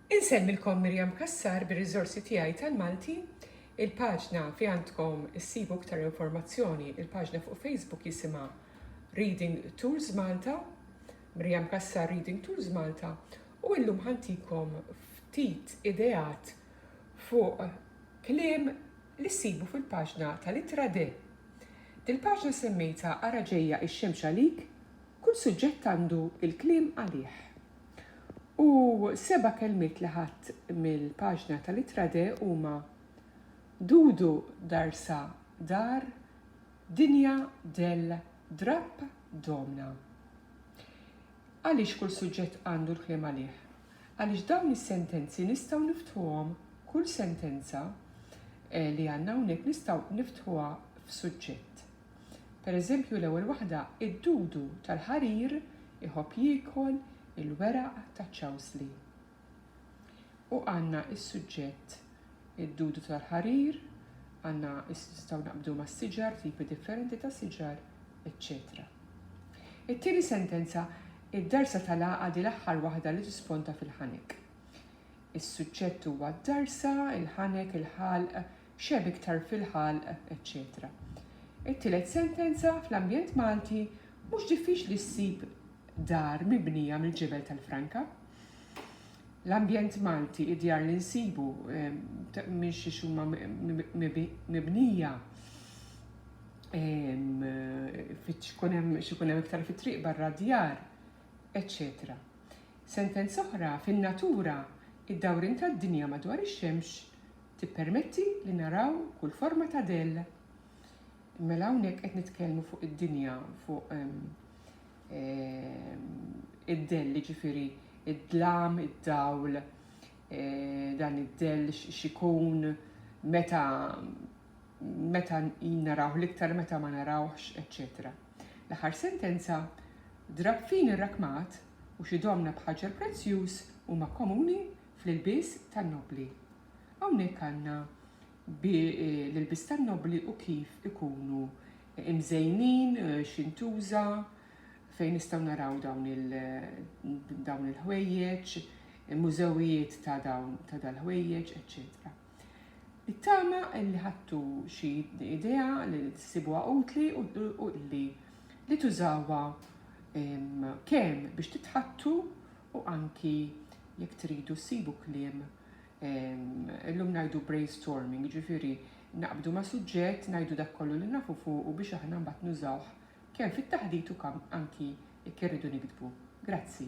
Insellmilkom Miriam Cassar bir-riżorsi tiegħi tal-Malti. Il-paġna fi għandkom issibu iktar informazzjoni, il-paġna fuq Facebook jisimha Reading Tools Malta, Miriam Cassar Reading Tools Malta, u illum ħantikom ftit ideat fuq kliem li ssibu fil-paġna tal-ittra de. Dil-paġna semmejtha Ara ġejja ix-xemx għalik, Kull suġġett għandu l-kliem għalih. U seba' kelmiet li ħadt mill-paġna tal-Ittra De huma, Dudu darsa dar, dinja del drapp domna. Għaliex kull suġġett għandu l-kliem għalih? Għaliex dawn is-sentenzi nistgħu niftħuhom, kull sentenza li għandna hawnhekk nistgħu niftħuha f'suġġett. Pereżempju, l-ewwel waħda, id-dudu tal-ħarir iħobb jiekol il-weraq taċ-ċawsli. U għandna s-suġġett id-dudu tal-ħarir, għandna nistgħu naqbdu mas-siġar, tipi differenti ta' siġar, eċċetera. It-tieni sentenza, id-darsa tal-għaqad hi l-aħħar waħda li tisponta fil-ħanek. Is-suġġett huwa d-darsa, il-ħanek, il-ħalq, x'hemm iktar fil-ħalq, eċċetera It-tielet sentenza, Fl-ambjent Malti mhux diffiċli ssib dar mibnija mill-ġebel tal-franka. L-ambjent Malti, id-djar li nsibu minn xi huma mibnija x'ikun hemm iktar fit-triq barra d-djar, eċċetera Sentenza oħra, Fin-natura, id-dawrien tad-dinja madwar ix-xemx Tippermetti li naraw kull forma ta' dell. Mela hawnhekk qed nitkellmu fuq id-dinja, fuq id-dell, jiġifieri id-dlam, id-dawl, dan id-dell x'ikun, meta meta narawh l-iktar, meta ma narawhx, eċċetera. L-aħħar sentenza, Drapp fin ir-rakmat u xi domna b'ħaġar prezzjuż huma komuni fl-ilbies tan-nobbli. Hawnhekk għandna bi l-ilbies tan-nobbli u kif ikunu imżejnin, x'intuża, fejn nistgħu naraw dawn il dawn il-ħwejjeġ, mużewijiet ta' dawn ta' dal-ħwejjeġ, eċċetera. It-tama li ħadtu xi idea li ssibuha utli u li li tużawha kemm biex titħattu U anki jekk tridu ssibu kliem, illum ngħidu brainstorming, jiġifieri naqbdu ma' suġġett, ngħidu dak kollu li nafu fuqu biex aħna mbagħad nużawh kemm fit-taħdit u kemm anki jekk irridu niktbu. Grazzi.